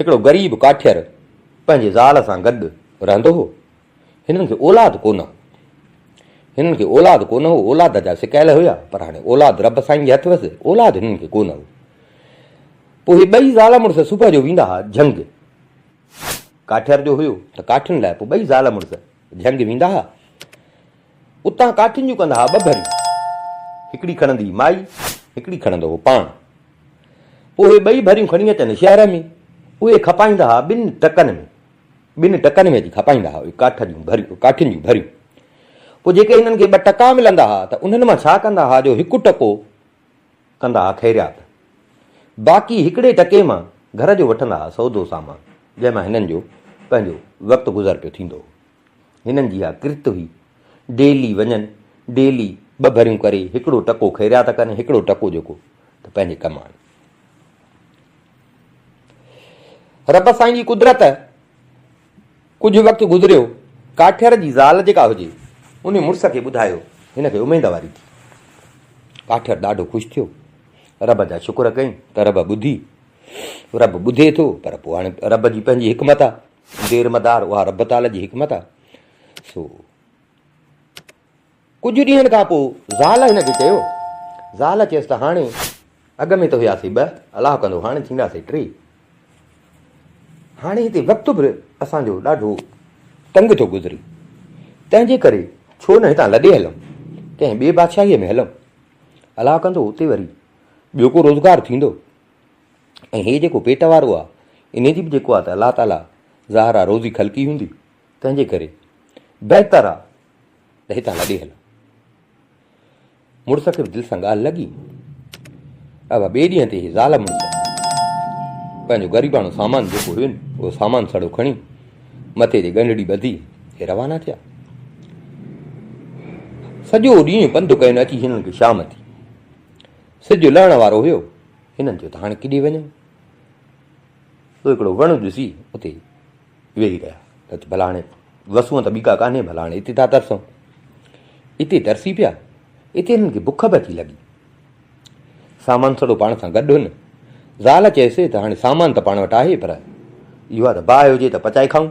هڪڙو غريب ڪاٺير پنهنجي زال سان گڏ رهندو هو. هنن کي اولاد ڪونه هو. هنن کي اولاد ڪونه هو. اولاد جا سڪايل هيا پر هاڻي اولاد رب سائين جي هٿ هئس. اولاد هنن کي ڪونه هو. پوء هي ٻئي زال مڙس صبح جو ويندا ها جهنگ. ڪاٺير جو هيو ته ڪاٺين لاء پوء ٻئي زال مڙس جهنگ ويندا ها. اتان ڪاٺين جون ڪندا ها ٻه ڀريون، هڪڙي کڻندي هئي مائي، هڪڙي کڻندو هو پاڻ. پوء اهي ٻئي ڀريون کڻي اچن شهر ۾، اهي کپائيندا ها ٻن ٽڪن ۾، ٻن ٽڪن ۾ اچي کپائيندا ها اهي ڪاٺ جون ڀريون، ڪاٺين جون ڀريون. پوء جيڪي هنن کي ٻه ٽڪا ملندا ها ته انهن مان ڇا ڪندا ها جو هڪ ٽڪو ڪندا ها خيريات، باقي هڪڙي ٽڪي مان گهر جو وٺندا ها سودو سامان، جنهن مان هنن جو پنهنجو وقت گذر پيو ٿيندو هو. هنن جي اها ڪرت هئي. ڊيلي وڃن، ڊيلي ٻه ڀريون ڪري، هڪڙو ٽڪو خيريات ڪن، هڪڙو ٽڪو جيڪو ته پنهنجي ڪم آڻن. رب سائين جي قدرت ڪجهه وقت گذريو، ڪاٺير جي زال جيڪا هجي، ان مڙس کي ٻڌايو، هن کي اميد واري ٿي. ڪاٺير ڏاڍو خوش ٿيو، رب جا شڪر ڪيائين ته رب ٻڌي، رب ٻڌي ٿو، پر پوء هاڻي رب جي پنهنجي حڪمت آهي. دير مدار اها رب تعاليٰ جي حڪمت آهي. سو ڪجهه ڏينهن کان پوء زال هن کي چيو. زال چيس ته هاڻي اڳ ۾ ته هياسي ٻه الله ڪندو هاڻي ٿينداسي ٽي. هاڻي هتي وقت به اسان جو ڏاڍو تنگ ٿو گذري تنهن جي ڪري ڇو نه هتان لڏي هلون ڪنهن ٻي بادشاهيء ۾ هلون الله ڪندو اتي وري ٻيو ڪو روزگار ٿيندو. ۽ هي جيڪو پيٽ وارو آ انهي جي به جيڪو آ ته الله تعالي ظاهر آ روزي خلقي هوندي تنهن جي ڪري بهتر آ ته هتان لڏي هل. مڙس کي به دل سان ڳالهه لڳي اڀا ٻئي ڏينهن تي هي زال مڙس پنهنجو غريباڻو سامان جيڪو هين اهو سامان سڙو کڻي مٿي جي ڳنڍڙي ٻڌي هي روانا ٿيا سڄو ڏينهن پنڌ ڪيو اچي هنن کي شام ٿي سج لهڻ وارو هيو، هنن چيو ته هاڻي ڪيڏي وڃون؟ سو هڪڙو وڻ ڏسي اتي ويهي رهيا ته ڀلا هاڻي وسون ته ٻي ڪا ڪانهي ڀلا هاڻي اتي ٿا ترسون. اتي ترسي پيا، اتي هنن کي بک به اچي لڳي. سامان سڙو پاڻ سان گڏ هن، زال چيس ته هاڻي سامان ته پاڻ وٽ آهي پر اهو آهي ته باهه هجي ته پچائي کائون.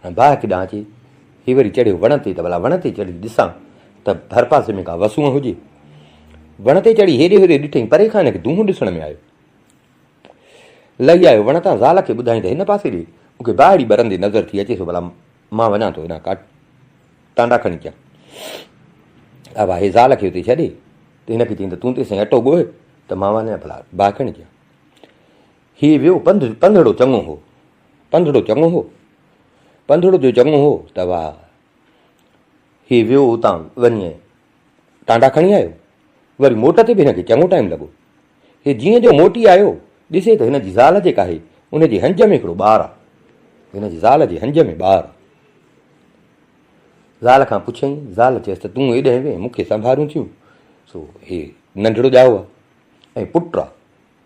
۽ باهه هڪ ڏانهن اچي هي وري چڙهيو وڻ تي ته ڀلا وڻ تي چڙهي ڏسان ته ڀرپاسي ۾ ڪا وسونء هجي. وڻ تي چڙهي هيڏي هوڏي ڏٺئي، پري کان هن کي دونهون ڏسڻ ۾ آيو. لهي آيو وڻ تان زال کي ٻڌائين ته هن پاسي ڏي، مون کي باهه اڙي ٻرندي نظر ٿي اچيس ڀلا مان وڃان ٿو هيڏانهن ڪا ٽانڊا کڻي اچان. اوا هي زال کي اتي ڇڏي ته هن کي چيائين ته تون تيسين اٽو ڳوهه ته مان وڃان ڀلا باهه کڻي اچان. هي ويو پنڌ، پنڌڙو چڱو هو. پنڌڙو چڱو هو؟ پنڌڙو جو چڱو هو ته واهه. هي ويو اتان وڃي ٽانڊا کڻي آيو. وري موٽ تي به هن کي چڱو ٽائيم لڳو. هي جيئن جو موٽي آيو، ڏسي ته هن جي زال جيڪا آهي، ان جي هنج ۾ هڪڙو ٻار آهي. هن جي زال جي هنج ۾ ٻار آهي. زال کان پڇيائين، زال چيس ته تون ايڏهين وين، مون کي سنڀاريون ٿيون، سو هي ننڍڙو ڄائو آهي ۽ پٽ آهي.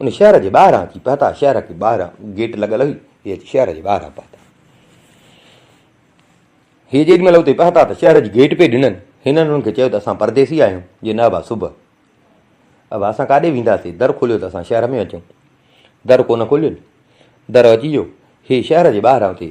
ان شهر جي ٻاهران اچي پهتا، شهر کي ٻاهران گيٽ لڳل هئي، هي اچي شهر جي ٻاهران پهتا. هي جيڏي مهل اتي پهتا ته شهر جي گيٽ پئي ڏنن، هنن هنن کي چيو ته اسان پرديسي آهيون، جي نه ابا صبح. ابا اسان ڪاڏي وينداسين، در کوليو ته اسان شهر ۾ اچون. در ڪونه کولين، در اچي ويو، هي شهر جي ٻاهران اتي.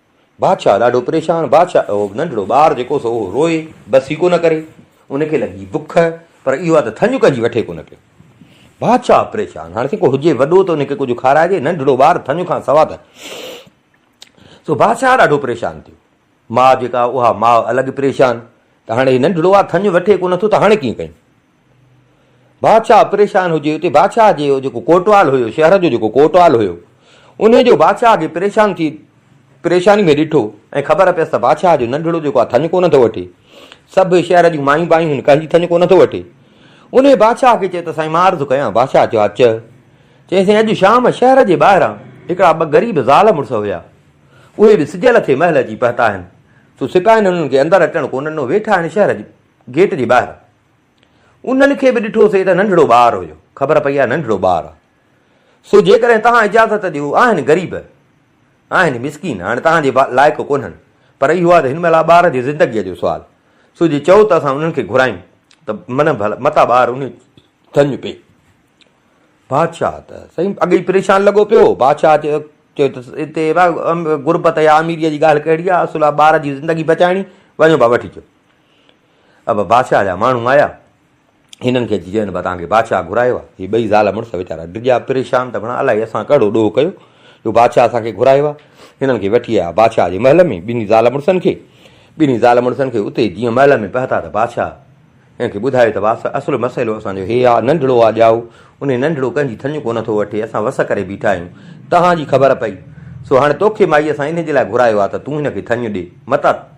بادشاهه ڏاڍو پريشان، بادشاهه اهو ننڍڙو ٻار جيڪو سو اهو روئي بس ئي ڪونه ڪري، ان کي لڳي بک پر اهو آ ته ٿڃ ڪجي وٺي ڪونه پيو. بادشاهه پريشان، هاڻ سين ڪو هجي وڏو ته ان کي ڪجهه کارائجي، ننڍڙو ٻار ٿڃ کان سوا ته. سو بادشاهه ڏاڍو پريشان ٿيو، ماء جيڪا اها ماء الڳ پريشان ته هاڻي هي ننڍڙو آ ٿڃ وٺي ڪونه ٿو ته هاڻي ڪيئن ڪيون. بادشاهه پريشان هجي اتي بادشاهه جي جيڪو ڪوٽوال هيو شهر جو جيڪو ڪوٽوال هيو انهي جو بادشاهه کي پريشان ٿي پريشاني ۾ ڏٺو ۽ خبر پيس ته بادشاهه جو ننڍڙو جيڪو آهي ٿڃ ڪونه ٿو وٺي سڀ شهر جون مايون بايون هن ڪنهن جي ٿڃ ڪونه ٿو وٺي انهي بادشاهه کي چيو ته سائين مان عرض ڪيان بادشاهه چيو ها چئه چئي سائين اڄ شام شهر جي ٻاهران هڪڙا ٻه غريب زال مڙس هيا اهي به سجيل ٿي محل اچي پهتا آهن سو سپاهين هنن کي اندر اچڻ ڪونه ڏنو ويٺا آهن شهر جي گيٽ جي ٻاهر انهن کي به ڏٺوسين ته ننڍڙو ٻار هيو. خبر پئي آهي ننڍڙو ٻار آهي. سو جيڪڏهن توهان اجازت ڏيو. آهن غريب. آهن مسڪين. هاڻي توهان جي لائق ڪونهن. پر اهو آهي ته هن مهل آهي ٻار جي زندگيء جو سوال. سو جي چئو ته اسان انهن کي گهرايون ته منه ڀل متان ٻار انهي ٿڃ پئي. بادشاهه ته سائين اڳ ئي پريشان لڳو پيو هو. بادشاهه چيو چيو ته هتي غربت يا اميريء جي ڳالهه ڪهڙي آهي. اصل آهي ٻار جي زندگي بچائڻي. وڃو ڀا وٺي اچو. ابا بادشاهه جا ماڻهو آيا، هنن کي اچي چين، توهان کي بادشاهه گهرايو آهي. هي ٻئي زال مڙس ويچارا ڊڄا پريشان ته ڀڻا الائي اسان ڪهڙو ڏوهه ڪيو جو بادشاهه اسان کي گهرايو آهي. هنن کي وٺي آيا بادشاهه جي محل ۾ ٻنهي زال مڙسن کي. ٻنهي زال مڙسن کي اتي جيئن محل ۾ پهتا ته بادشاهه هنن کي ٻڌايو ته واسه اصل مسئلو اسان جو هي آهي، ننڍڙو آهي ڄائو، انهي ننڍڙو ڪنهن جي ٿڃ ڪو نه ٿو وٺي، اسان وس ڪري بيٺا آهيون، توهان جي خبر پئي، سو هاڻي توکي مائي اسان انهي جي لاء گهرايو آهي ته تون هن کي ٿڃ ڏي، متان.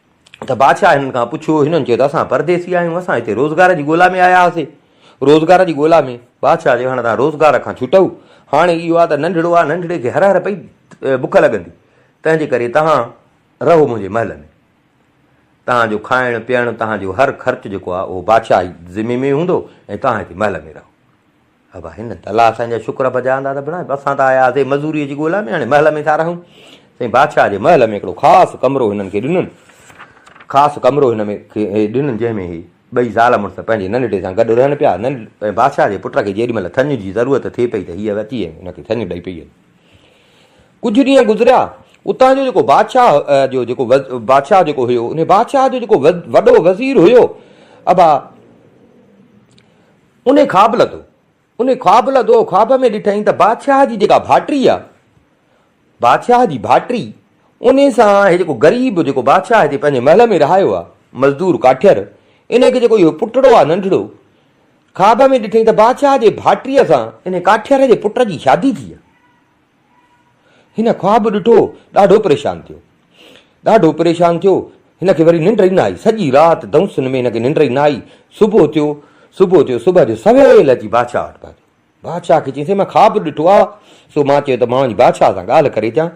ته بادشاهه هنن کان پڇيو، هنن چيو ته اسان پرديسي آهيون، اسان هتي روزگار جي ڳولا ۾ آيا هئاسي، روزگار جي ڳولا ۾، بادشاهه چيو هاڻي توهان روزگار کان ڇٽئو، هاڻي اهو آهي ته ننڍڙو آهي، ننڍڙي کي هر هر پئي بک لڳندي، تنهن جي ڪري توهان رهو منهنجي محل ۾، توهان جو کائڻ پيئڻ، توهان جو هر خرچ جيڪو آهي اهو بادشاهه جي ذمي ۾ هوندو ۽ توهان هتي محل ۾ رهو. ابا هن تلاء سان جا شڪر بجا آندا ته بڻاء اسان ته آيا هئاسين مزوريء جي ڳولا ۾ هاڻي محل ۾ ٿا رهون سائين بادشاهه جي محل ۾ هڪڙو خاص ڪمرو هنن کي ڏنن خاص ڪمرو هن ۾ ڏنن جنهن ۾ هي ٻئي زال مڙس پنهنجي ننڍڙي سان گڏ رهن پيا ننڍ بادشاهه جي پٽ کي جيڏي مهل ٿڃ جي ضرورت ٿئي پئي ته هيء اچي هن کي ٿڃ ڏئي پئي ڪجهه ڏينهن گذريا اتان جو جيڪو بادشاهه جو جيڪو بادشاهه جيڪو هيو ان بادشاهه جو جيڪو وڏو وزير هيو ابا انهي خواب لڌو، انهي خواب لڌو، خواب ۾ ڏٺائين ته بادشاهه جي جيڪا ڀاٽري آ، بادشاهه جي ڀاٽري، انهي سان هي جيڪو غريب جيڪو بادشاهه هتي پنهنجي محل ۾ رهايو آ، مزدور ڪاٺير، انهي کي جيڪو اهو پٽڙو آ ننڍڙو، خواب ۾ ڏٺائين ته بادشاهه جي ڀاٽريء سان انهي ڪاٺير جي پٽ جي شادي ٿي آ. هن خواب ڏٺو، ڏاڍو پريشان ٿيو. ڏاڍو پريشان ٿيو، هن کي وري ننڊ ئي نه آئي، سڄي رات دؤنسن ۾ هن کي ننڊ ئي نه آئي، صبح ٿيو، صبح ٿيو، صبح جو سويل اچي بادشاهه وٽ پهتو، بادشاهه کي چيائين سائين مان خواب ڏٺو آ، سو مان چيو ته مان وڃي بادشاهه سان ڳالهه ڪري اچان،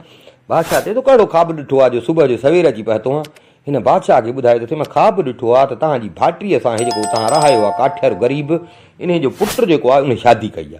بادشاهه چيو تو ڪهڙو خواب ڏٺو آ جو صبح جو سوير اچي پهتو آن، هن بادشاهه کي ٻڌايو ته سائين مان خواب ڏٺو آ ته توهان جي ڀائٽيء سان هي جيڪو توهان رهايو آ ڪاٺيارو غريب، انهيء جو پٽ جيڪو آ انهيء شادي ڪئي آ.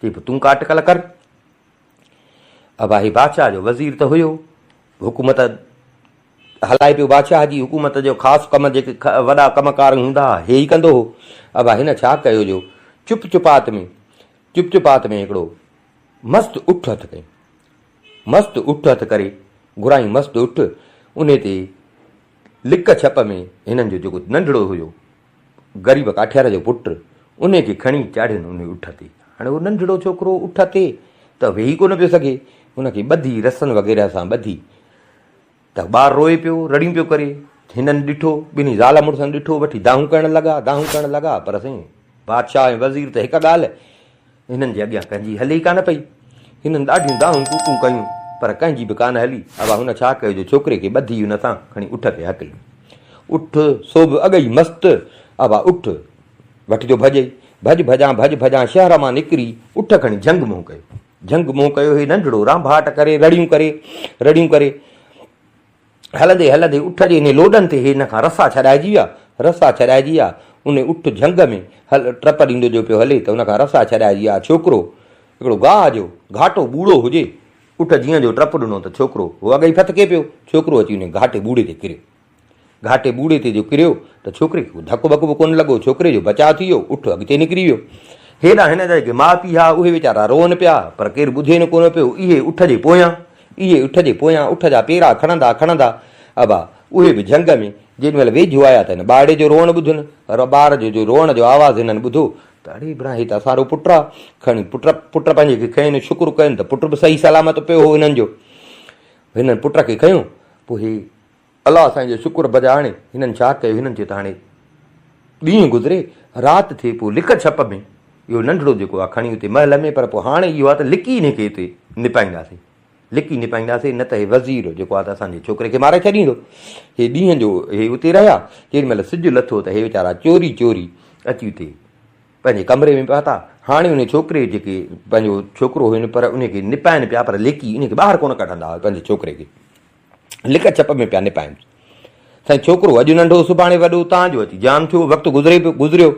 چي پيو تون ڪا اٽڪل ڪر. اباهي بادشاهه جو وزير ته هيو، حڪومت هلائي پيو، بادشاهه جي حڪومت جو خاص ڪم جيڪي وڏا ڪم ڪار هوندا ها، هي ئي ڪندو هو. ابا هن ڇا ڪيو جو چپ چپات ۾ چپ چپات ۾ هڪڙو مست اٺ هٿ ڪيائين. مست اٺ هٿ ڪري گهرائين مست اٺ، انهي تي لڪ ڇپ ۾ هنن جو جيڪو ننڍڙو هيو، غريب ڪاٺيار جو پٽ انهي کي کڻي چاڙهين انهي اٺ تي. هاڻي اهو ننڍڙو ڇوڪرو اٺ تي ته ويهي ڪونه پيو سگهي. ان کي ٻڌي، رسن وغيره سان ٻڌي ته ٻار روئي پيو، رڙيون پيو ڪري. هنن ڏٺو، ٻنهي زال مڙسن ڏٺو، وٺي دانهون ڪرڻ لڳا، دانهون ڪرڻ لڳا پر سائين بادشاهه ۽ وزير ته هڪ ڳالهه، هنن جي اڳيان ڪنهن جي هلي ئي ڪانه پئي. هنن ڏاڍيون دانهون ڪوڪون ڪيون، پر ڪنهن جي به ڪانه هلي. اڀا هن ڇا ڪيو جو ڇوڪري کي ٻڌي ان تان کڻي اٺ کي هڪيو. اٺ، سو به اڳ ئي مست، اڀا اٺ وٺ جو ڀڄئي. ڀڄ ڀڄان، ڀڄ ڀڄان شهر مان نڪري اٺ کڻي جهنگ منهن ڪيو. جهنگ منهن ڪيو هي ننڍڙو رانڀاٽ ڪري رڙيون ڪري، رڙيون ڪري. هلندي هلندي اٺ جي انهي لوڏن تي هن کان رسا ڇڏائجي ويا، رسا ڇڏائجي ويا، انهي اٺ جهنگ ۾ هل ٽپ ڏيندو جو پيو هلي ته ان کان رسا ڇڏائجي ويا، ڇوڪرو هڪڙو گاهه جو گهاٽو ٻوڙو هجي، اٺ جيئن جو ٽپ ڏنو ته ڇوڪرو هو اڳ ئي ڦٿڪي پيو، ڇوڪرو اچي انهي گهاٽي ٻوڙي تي ڪريو، گهاٽي ٻوڙي تي جو ڪريو ته ڇوڪري کي ڪو ڌڪ وڪ به ڪونه لڳو، ڇوڪري جو بچاء ٿي ويو، اٺ اڳتي نڪري ويو، هيڏانهن هن جا جيڪي ماء پيء ها اهي ويچارا روئن پيا پر ڪير ٻڌين ڪونه پيو، اهي اٺ جي پويان. اهي اٺ جي پويان اٺ جا پيرا کڻندا کڻندا ابا اهي به جهنگ ۾ جيڏي مهل ويجهو آيا ته هن ٻارڙي جو روئڻ ٻڌن ٻار جو جو روئڻ جو آواز هنن ٻڌو ته اڙي بران هي ته اسارو پٽ آ کڻي پٽ پٽ پنهنجي کي کنين شڪر ڪين ته پٽ به صحيح سلامت پيو هو هنن جو هنن پٽ کي کنيو پوء هي الله سائين جو شڪر بجا آڻي هنن ڇا ڪيو هنن چيو ته هاڻي ڏينهن گذري رات ٿئي پوء لڪ ڇپ ۾ اهو ننڍڙو جيڪو آهي کڻي اتي محل ۾ پر پوء هاڻي اهو آهي ته لڪي هن کي اتي نپائينداسي لڪي نپائينداسي نه ته هي وزير جيڪو آهي ته اسان جي ڇوڪري کي ماري ڇڏيندو هي ڏينهن جو هي اتي رهيا ڪيڏي مهل سج لٿو ته هي ويچارا چوري چوري اچي اتي پنهنجي ڪمري ۾ پهتا هاڻي ان ڇوڪري جيڪي پنهنجو ڇوڪرو هن پر ان کي نپائن پيا پر لڪي ان کي ٻاهر ڪونه ڪڍندا هئا پنهنجي ڇوڪري کي لڪ ڇپ ۾ پيا نپائينس. سائين ڇوڪرو اڄ ننڍو سڀاڻي وڏو تان جو اچي جام ٿيو وقت گذري پيو گذريو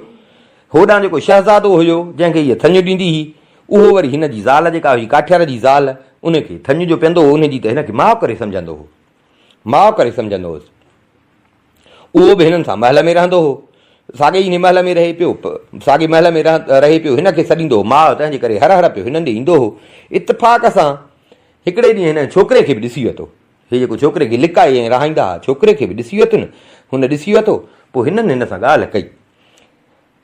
هوڏان جيڪو شهزادو هيو جنهن کي هيء ٿڃ ڏيندي هئي اهو وري هن جي زال جيڪا هئي ڪاٺيار جي زال ان کي ٿڃ جو پيندو هو ان جي ته هن کي ماء ڪري سمجهندو هو ماء ڪري سمجهندو هوس اهو به هنن سان محل ۾ رهندو هو. ساڳي ئي محل ۾ رهي پيو. ساڳي محل ۾ رهي پيو. هن کي سڏيندو هو ماء، تنهن جي ڪري هر هر پيو هنن ڏي ايندو هو. اتفاق سان هڪڙي ڏينهن هنن ڇوڪري کي به ڏسي ورتو. هي جيڪو ڇوڪري کي لڪائي ۽ رهائيندا هئا، ڇوڪري کي به ڏسي ورتن. هن ڏسي ورتو، پوء هنن هن سان ڳالهه ڪئي.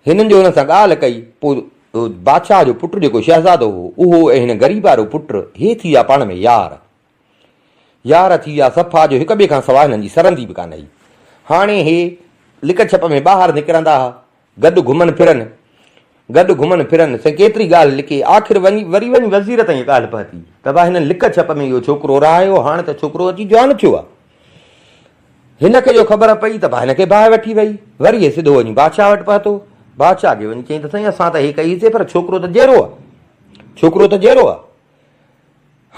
هنن جو هن سان ڳالهه ڪئي، پوء بادشاهه جو پٽ جيڪو شهزادو هو، اهو ۽ هن غريب وارو پٽ، هي ٿي ويا پاڻ ۾ يار. يار ٿي ويا صفا جو هڪ ٻئي کان سواء هنن جي سرندي به ڪانه هئي. هاڻي هي لڪ ڇپ ۾ ٻاهر نڪرندا ها، گڏ گهمن ڦرن، گڏ گهمن ڦرن، سائين ڪيتري ڳالهه لڪي، آخر وري وڃي وزير تائين ڳالهه پهتي ته ڀاء هنن لڪ ڇپ ۾ اهو ڇوڪرو رهايو، هاڻ ته ڇوڪرو اچي جوان ٿيو آهي. هن کي جو خبر پئي ته ڀاء هن کي باهه وٺي وئي. وري هي سڌو وڃي بادشاهه وٽ پهتو. بادشاهه کي وڃي چيائين ته سائين اسان ته هي ڪئيسي پر ڇوڪرو ته جيئرو آهي. ڇوڪرو ته جيئرو آهي.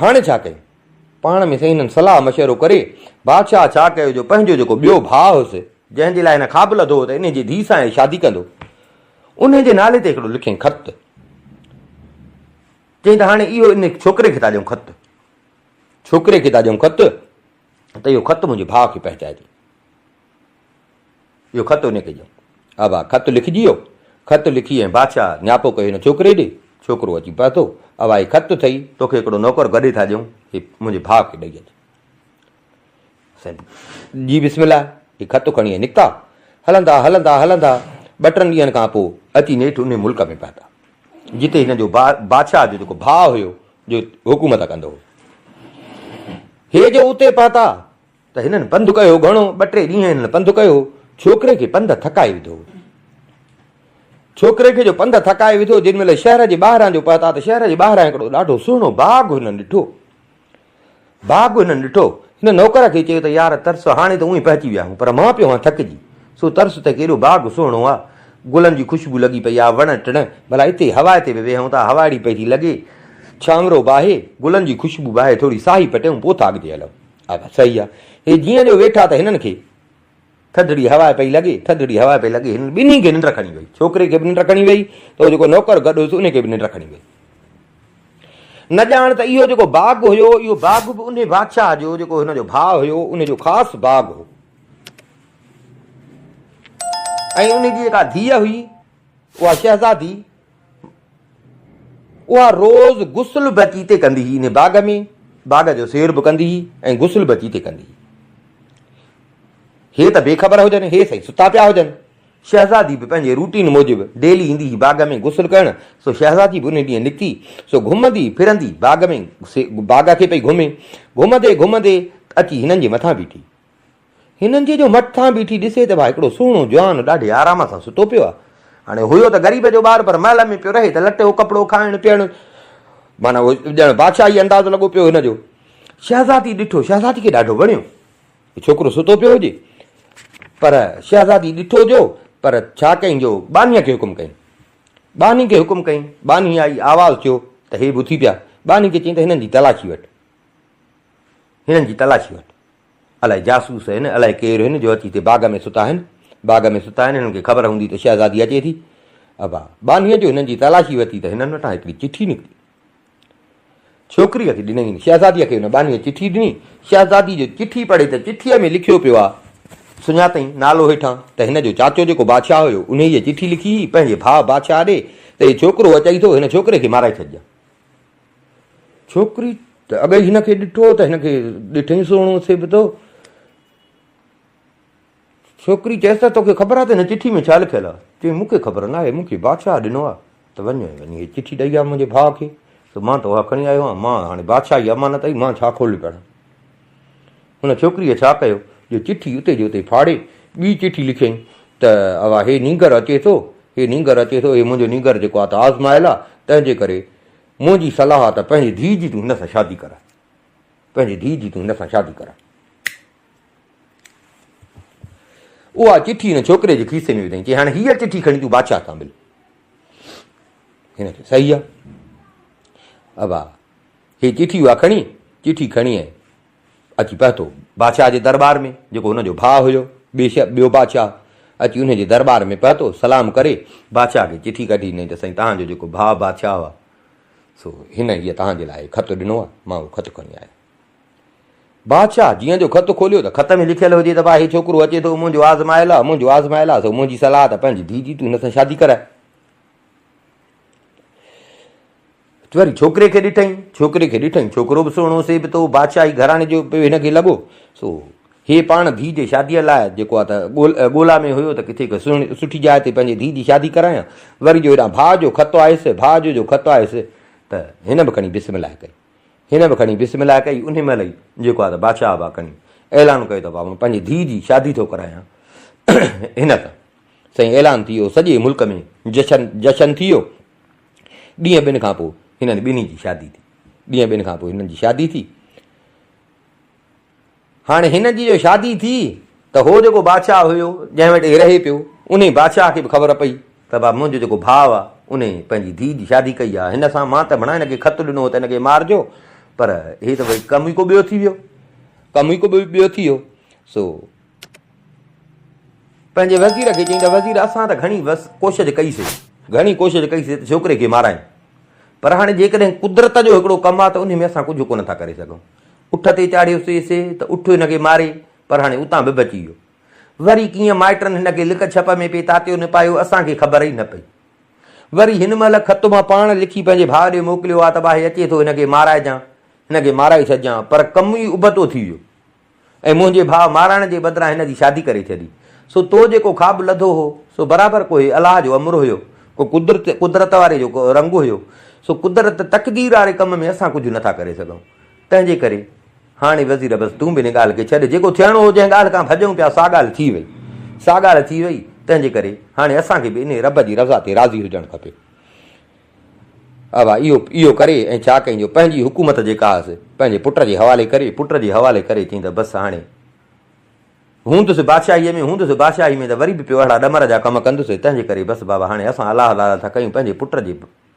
هاڻي ڇا ڪيون؟ پاڻ ۾ سائين هنن صلاح مشورو ڪري بادشاهه ڇا ڪيو جو پنهنجو جيڪو ٻيو ڀاء هوس، جنهن جي لاء هن خواب لڌو هو ته انهيء جي ڌيء سان هي شادي ڪندو، انهيء جي نالي تي هڪڙو لکين خط. چيائين ته هاڻي اهو انهيء ڇوڪري کي ٿا ڏيون خط. ڇوڪري کي ٿا ڏيون خط ته اهو خط منهنجي ڀاء کي پهچائجي. اهو خط انهيء کي ڏيون. اوا، خط لکجي ويو. خط لکي ۽ بادشاهه نياپو ڪيو هن ڇوڪري ڏي. ڇوڪرو اچي پهتو. اوا، هي خط اٿئي، توکي هڪڙو نوڪر گڏي ٿا ڏيون، هي منهنجي ڀاء کي ڏئي اچ. سائين جي بسم الله، هي خط کڻي نڪتا. هلندا هلندا هلندا ٻه ٽن ڏينهن کان پوء اچي نيٺ انهيء ملڪ ۾ پهتا، جتي هنن جو بادشاهه جو جيڪو ڀاء هيو، جو حڪومت ڪندو هو. هي جو اتي پهتا، ته هنن پنڌ ڪيو گهڻو، ٻه ٽي ڏينهن هنن پنڌ ڪيو، ڇوڪري کي پنڌ ٿڪائي وڌو. ڇوڪري کي جو پنڌ ٿڪائي وڌو، جن مهل شهر جي ٻاهران جو پهتا ته شهر جي ٻاهران هڪڙو ڏاڍو سهڻو باغ هنن ڏٺو. باغ هنن ڏٺو، هن نوڪر کي چيو ته يار ترس هاڻي ته اونهي پهچي ويا آهيون، پر مان پيو هان ٿڪجي، سو ترس ته ڪيڏو باغ سهڻو آ، گلن جي خوشبو لڳي پئي آ، وڻ ٽڻ، ڀلا اتي هوائي تي به ويهون ٿا، هوا اهڙي پئي ٿي لڳي، ڇانورو باهي، گلن جي خوشبو باهي، ٿوري ساهي پٽيون، پوء ٿا اڳتي هلون. آغا، صحيح آ. هي جيئن جو ويٺا ته هنن کي ٿڌڙي هوا پئي لڳي، ٿڌڙي هوا پئي لڳي، هنن ٻنهي کي ننڊ کڻي وئي. ڇوڪري کي به ننڊ کڻي وئي ته هو جيڪو نوڪر گڏ هيس ان کي به ننڊ کڻي وئي. نه ڄاڻ ته اهو جيڪو باغ هيو، اهو باغ به انهي بادشاهه جو جيڪو هن جو ڀاء هيو، ان جو خاص باغ هو. ۽ ان جي جيڪا ڌيء هئي، اها شهزادي، اها روز غسل به اچي اتي ڪندي هئي، انهي باغ ۾ باغ جو سير به ڪندي هئي ۽ غسل به اچي اتي ڪندي هئي. هي ته بي خبر هجن، هي سائين ستا پيا هجن. شهزادي به پنهنجي روٽين موجب ڊيلي ايندي هئي باغ ۾ غسل ڪرڻ، سو شهزادي به انهي ڏينهن نڪتي، سو گهمندي ڦرندي باغ ۾ باغ کي پئي گهمي، گهمندي گهمندي اچي هنن جي مٿان بيٺي. هنن جي جو مٺ ٿان بيٺي ڏسي ته ڀا هڪڙو سهڻو جوان ڏاڍي آرام سان ستو پيو آهي. هاڻي هيو ته غريب جو ٻار پر محل ۾ پيو رهي ته لٽو ڪپڙو کائڻ پيئڻ معنيٰ ڄڻ بادشاهي انداز لڳو پيو هن جو. شهزادي ڏٺو شهزادي کي ڏاڍو وڻيو هي ڇوڪرو ستو پيو هجي پر شهزادي ڏٺو جو پر ڇا ڪيائين جو ٻانهيء کي حڪم ڪيائين ٻانهي کي حڪم ڪيائين ٻانهي آئي آواز ٿيو ته هي به اٿي پيا ٻانهي کي چيائين ته هنن جي تلاشي وٺ هنن جي تلاشي وٺ. الائي جاسوس هن، الائي ڪير هن جو اچي هتي باغ ۾ ستا آهن. باغ ۾ ستا آهن، هنن کي خبر هوندي ته شهزادي اچي ٿي. ابا ٻانهيء جو هنن جي تلاشي ورتي ته هنن وٽان هڪڙي چٺي نڪتي. ڇوڪريء کي ڏنئين. شهزاديء کي هن ٻانهيء چٺي ڏني. شهزادي جو چٺي پڙهي ته چٺيء ۾ لکيو پيو آ. سڃاتئين نالو هيٺان ته هن جو چاچو جيڪو بادشاهه هيو، انهيء چٺي لکي هئي پنهنجي ڀاء بادشاهه ڏي ته هي ڇوڪرو اچئي ٿو، هن ڇوڪري کي مارائي ڇڏجان. ڇوڪري ته اڳ ئي هن کي ڏٺو ته هن کي ڏٺئي سهڻو ٿئي به ٿو ڇوڪري چيس ته توکي خبر آهي ته هن چٺي ۾ ڇا لکيل آهي چوي مونکي خبر نه آهي مونکي بادشاهه ڏنو آهي ته وڃ وڃي هي چٺي ڏئي آ منهنجي ڀاء کي ته مان ته اها کڻي آيو آهيان مان هاڻي بادشاهي امانت اي مان ڇا کولي پڙهان هن ڇوڪريء ڇا ڪيو جو چٺي اتي جو اتي ڦاڙي ٻي چٺي لکيائين ته اوا هي نينگر اچي ٿو هي نينگر اچي ٿو هي منهنجو نينگر جيڪو آ ته آزمايل آ تنهن جي ڪري منهنجي صلاح آ ته پنهنجي ڌيء جي تون هن سان شادي ڪراء پنهنجي ڌيء جي تون هن سان شادي ڪراء اها چٺي هن ڇوڪري جي کيسي ۾ وڌائين چي هاڻي هيء چٺي کڻي تون بادشاهه سان مل هن چيو صحيح آ ابا هي چٺي اها کڻي، چٺي کڻي ۽ اچي پهتو بادشاهه جي درٻار ۾، جيڪو ان جو ڀاء هيو، بيشڪ ٻيو بادشاهه اچي انهيء جي درٻار ۾ پهتو، سلام ڪري، بادشاهه کي چٺي ڪڍي ڏنائين ته سائين توهان جو جيڪو ڀاء بادشاهه هو، سو هن هيء توهان جي لاء خط ڏنو آهي، مان اهو خط کڻي آيو. بادشاهه جيئن جو خط کوليو ته خط ۾ لکيل هجي ته واهي ڇوڪرو اچي ٿو، منهنجو آزمايل آهي، منهنجو آزمايل آهي، سو منهنجي صلاح ته پنهنجي ڌيء جي تون هن سان شادي ڪرائي. تون وري ڇوڪري کي ڏٺئين؟ ڇوڪري کي ڏٺئين، ڇوڪرو به سهڻو، سي به تو بادشاهي گهراڻي جو پيو هن کي لڳو، سو هيء پاڻ ڌيء جي شاديء لاء جيڪو آ ته ڳولا ۾ هيو ته ڪٿي ڪا سهڻي سٺي جاء تي پنهنجي ڌيء جي شادي ڪرايان، وري جو هيڏانهن ڀاء جو خط آيس، ڀاء جو جو خط آيس ته هن به کڻي بسم الله ڪئي، هن به کڻي بسم الله ڪئي، انهي مهل ئي جيڪو آ ته بادشاهه به آ کڻي اعلان ڪيو ته ڀاء مان پنهنجي ڌيء جي شادي ٿو ڪرايان هن سان، سائين اعلان ٿي ويو، سڄي ملڪ ۾ جشن جشن ٿي ويو. ڏينهن ٻن کان پوء هنن ٻنهي جي شادي ٿي. ڏينهن ٻن کان پوء هنن جي شادي ٿي. هاڻي هنن جي جو شادي ٿي ته هو جيڪو بادشاهه هيو جنهن وٽ هي رهي پيو انهي بادشاهه کي به خبر پئي ته با منهنجو جيڪو ڀاء آ انهي پنهنجي ڌيء جي شادي ڪئي آ هن سان مان ته ڀڻا هن کي خط ڏنو هو ته هن کي مارجو پر هي ته ڀئي ڪم ئي ڪو ٻيو ٿي ويو ڪم ئي ڪو ٻيو ٿي ويو سو پنهنجي وزير کي چيائين ته وزير اسان ته گهڻي ڪوشش ڪئي سي، گهڻي ڪوشش ڪئي سي ته ڇوڪري کي مارائين پر هاڻي جيڪڏهن قدرت جو هڪڙو ڪم آهي ته انهي ۾ اسان ڪجهه ڪونه ٿا ڪري سگهون. اٺ تي چاڙهيو سي سي ته اٺ هن کي ماري پر هاڻي اتان به بچي ويو. وري ڪيئن مائٽن هن کي لڪ ڇپ ۾ پئي تاتيو نپايو اسان کي خبر ئي نه پئي. وري هن مهل خط مان پاڻ لکي پنهنجي ڀاء ڏي موڪليو آ ته ڀاء اچي ٿو هن کي مارائجان، هن کي مارائي ڇڏجان پر ڪم ئي ابتو ٿي ويو. ۽ منهنجي ڀاء مارائڻ جي بدران هن جي شادي ڪري ڇڏي. سو تو جيڪو خواب لڌو هو، سو برابر ڪو هي الله جو امر هيو، ڪو قدرت قدرت واري جو رنگ هيو. سو قدرت تقدير واري ڪم ۾ اسان ڪجهه نه ٿا ڪري سگهون. تنهنجي ڪري هاڻي وزير بس تون به ان ڳالهه کي ڇڏ، جيڪو ٿيڻو هو، جنهن ڳالهه کان ڀڄون پيا، سا ڳالهه ٿي وئي. سا ڳالهه ٿي وئي، تنهنجي ڪري هاڻي اسان کي به انهيء رب جي رضا تي راضي هجڻ کپي. ابا اهو اهو ڪري ۽ ڇا ڪيائين جو پنهنجي حڪومت جيڪا هئس پنهنجي پٽ جي حوالي ڪري پٽ جي حوالي ڪري چيائين ته بس هاڻي هوندس بادشاهيء ۾ هوندس بادشاهيء ۾ ته وري به پيو اهڙا ڏمر جا ڪم ڪندس تنهنجي ڪري بس بابا هاڻي اسان الله الله ٿا ڪيون پنهنجي پٽ جي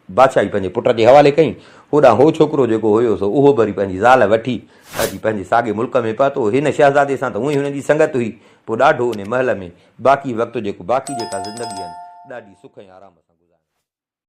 بادشاهي پنهنجي پٽ جي حوالي ڪئين هوڏانهن هو ڇوڪرو جيڪو هيو سو اهو به وري پنهنجي زال وٺي اچي پنهنجي ساڳي ملڪ ۾ پهتو هن شهزادي سان ته هونئن هن جي سنگت هئي پوء ڏاڍو انهي محل ۾ باقي وقت جيڪو باقي جيڪا زندگي هن ڏاڍي سک ۽ آرام سان